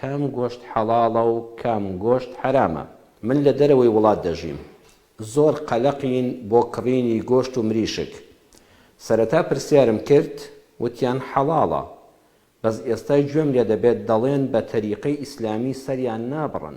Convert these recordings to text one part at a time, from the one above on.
کام گۆشت حەڵاڵە و کام گۆشت حەرامە؟ من لە دەرەوەی وڵات دەژیم زۆر قەلەقین بۆ کڕینی گۆشت و مریشک سەرەتا پرسیارم کرد وتیان حەڵاڵە بەس ئێستا گوێم لێ دەبێت دەڵێن بە تەریقەی ئیسلامی سەریان نابڕن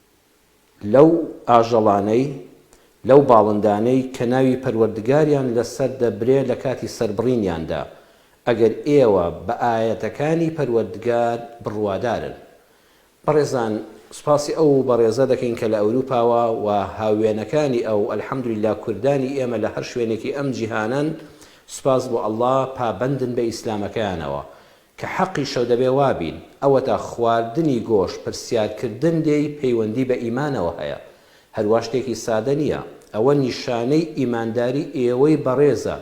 لەو ئاژەڵانەی، لەو باڵندانەی کە ناوی پەروەردگاریان لەسەر دەبرێ لە کاتی سەربڕینیاندا، ئەگەر ئێوە بە ئایەتەکانی پەروەردگار بڕوادارن. بەڕێزان سوپاسی ئەو بەڕێزە دەکەین کە لە ئەوروپاوە و هاووێنەکانی ئەو، الحمدللە کوردانی ئێمە لە هەر شوێنێکی ئەم جیهانەن سوپاس بۆ اللە پابەندن بە ئیسلامەکەیانەوە کە حەقیشە دەبێ وا بین، ئەوەتا خواردنی گۆشت پرسیارکردن لێی پەیوەندی بە ئیمانەوە هەیە، هەروا شتێکی سادە نییە، ئەوە نیشانەی ئیمانداری ئێوەی بەڕێزە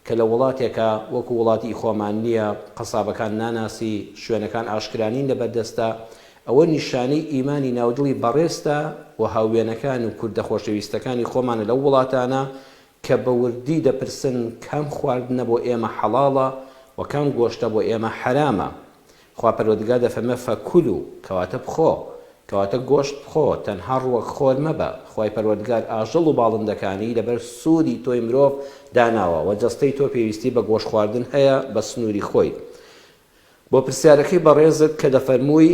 کە لە وڵاتێکا وەکو وڵاتی خۆمان نییە، قەسابەکان ناناسی، شوێنەکان ئاشکرا نین لە بەردەستا، ئەوە نیشانەی ئیمانی ناودڵی بەڕێزتە و هاووێنەکان و کوردە خۆشەویستەکانی خۆمانە لەو وڵاتانە کە بە وردی دەپرسن کام خواردنە بۆ ئێمە حەڵاڵە و کام گۆشتە بۆ ئێمە حەرامە؟ خوا پەروەردگار دەفەرمێ، فکلو، کەواتە بخۆ، کەواتە گۆشت بخۆ، تەنها ڕووەک خۆر مەبە، خوای پەروەردگار ئاژەڵ و باڵندەکانی لەبەر سوودی تۆی مرۆڤ داناوە وە جەستەی تۆ پێویستی بە گۆشت خواردن هەیە بە سنووری خۆی. بۆ پرسیارەکەی بەڕێزت کە دەفەرمووی،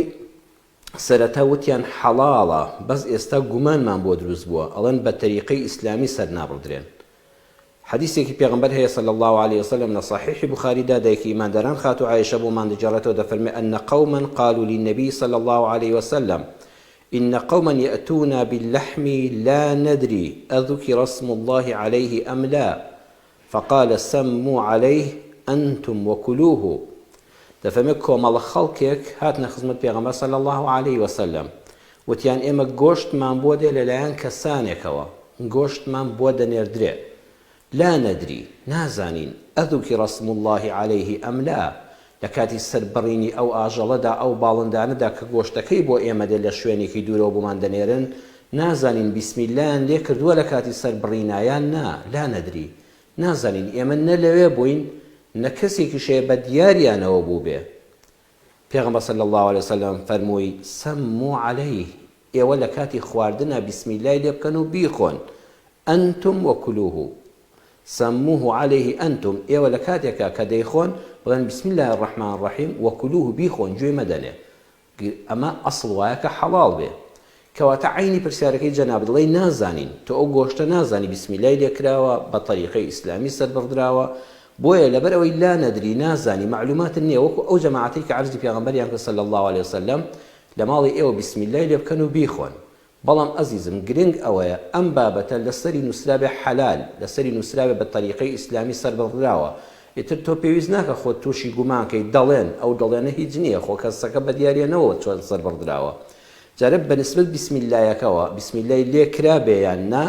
سەرەتا وتیان حەڵاڵە بەس ئێستا گومانمان بۆ دروست بووە ئەڵێن بە تەریقەی ئیسلامی سەرنابڕدرێن حەدیسێکی پێغەمبەر هەیە صلی اللە علیە وسلم لە صحیح بخاری دا دایکی ئیمانداران خاتو عائشە بۆمان دەگێڕێتەوە دەفەرمێ ان قوما قالوا للنبی صلی اللە علیە وسلم ان قوما یأتونا باللحم لا ندری اذکر اسم الله علیه ام لا فقال سمو علیه انتم وکلوه، دەفەرمێت کۆمەڵە خەڵکێک هاتنە خزمەت پێغەمبەر صلی اللە علیە وسلم وتیان ئێمە گۆشتمان بۆ دێ لەلایەن کەسانێکەوە گۆشتمان بۆ دەنێردرێ لا ندری نازانین اذکر اسم اللە علیه ام لا لە کاتی سەربڕینی ئەو ئاژەڵەدا، ئەو باڵندانەدا کە گۆشتەکەی بۆ ئێمە دێت لە شوێنێکی دوورەوە بۆمان دەنێرن، نازانین بیسمیللایان لێ کردووە لە کاتی سەربڕینا یان نا، لانەدری. نازانین. ئێمە نە لەوێ بووین، نە کەسێکیش هەیە بە دیاریانەوە بووبێ. پێغەمبەر صلی اللە علیە وسلم فەرمووی، سموا علیه، ئێوە لە کاتی خواردنا بیسمیلای لێ بکەن و بیخۆن، انتم وکلوه سموه علیه انتم، ئێوە لە کاتێکا کە دەیخۆن بڵێن بسم اللە الرحمن الرحیم وکلوه بیخۆن گوێ مەدەنێ ئەمە ئەسڵ وایە کە حەڵاڵ بێ کەواتە عەینی پرسیارەکەی جەنابت ڵێی نازانین تۆ ئەو گۆشتە نازانی بیسمیلای لێ کراوە بە طەریقەی ئیسلامی سەر بڕدراوە بۆیە لەبەر ئەوەی لا نەدری نازانی مەعلوماتت نیە وەکو ئەو جەماعەتەی کە عەرزی پێغەمبەریان کرد صلی اللە علیە وسلم لە ماڵی ئێوە بیسمیللای لێ بکەن و بیخۆن. بەڵام ئەزیزم گرنگ ئەوەیە ئەم بابەتە لە سەری نووسرابێ حەلال، لە سەری نووسرابێ بە تەریقەی ئیسلامی سەربڕدراوە. ئیتر تۆ پێویست ناکا خۆت تووشی گومان کەی، دەڵێن، ئەو دەڵێنە هیچ نییە، خۆ کەسەکە بە دیارییە نەوە چۆن سەربڕدراوە. جارێ بە نیسبەت بیسمیللایەکەوە، بیسمیللای لێ کرابێ یان نا،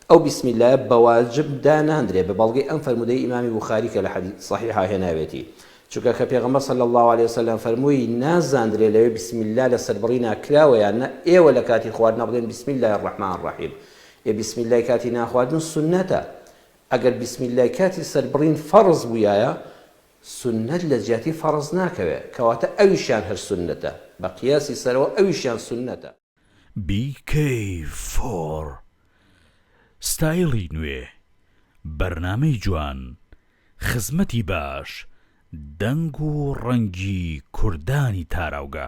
ئەو بیسمیللایە بە واجب دا ناندرێ، بە بەڵگەی ئەم فەرموودەی ئیمامی بوخاری کە لە حەدیس سەحیحا هێناوێتی، چونکە کە پێغەمبەر صلی اللە علیە وسلم فەرمووی نازاندرێ لەوێ بسم اللە لە سەربڕینا کراوە یان نا ئێوە لە کاتی خواردنا بڵێن بسم اللە الرحمن الرحیم ئێ بسم اللە کاتی ناخواردن سونەتە ئەگەر بسم اللە کاتی سەربڕین فەڕز بوویایە سونەت لە جیاتی فەڕز ناکەوێ کەواتە ئەویشیان هەر سونەتە بە قیاسی سەرەوە ئەویشیان سونەتە. BK فۆر ستایڵی نوێ بەرنامەی جوان خزمەتی باش دەنگ و ڕەنگی کوردانی تاراوگە.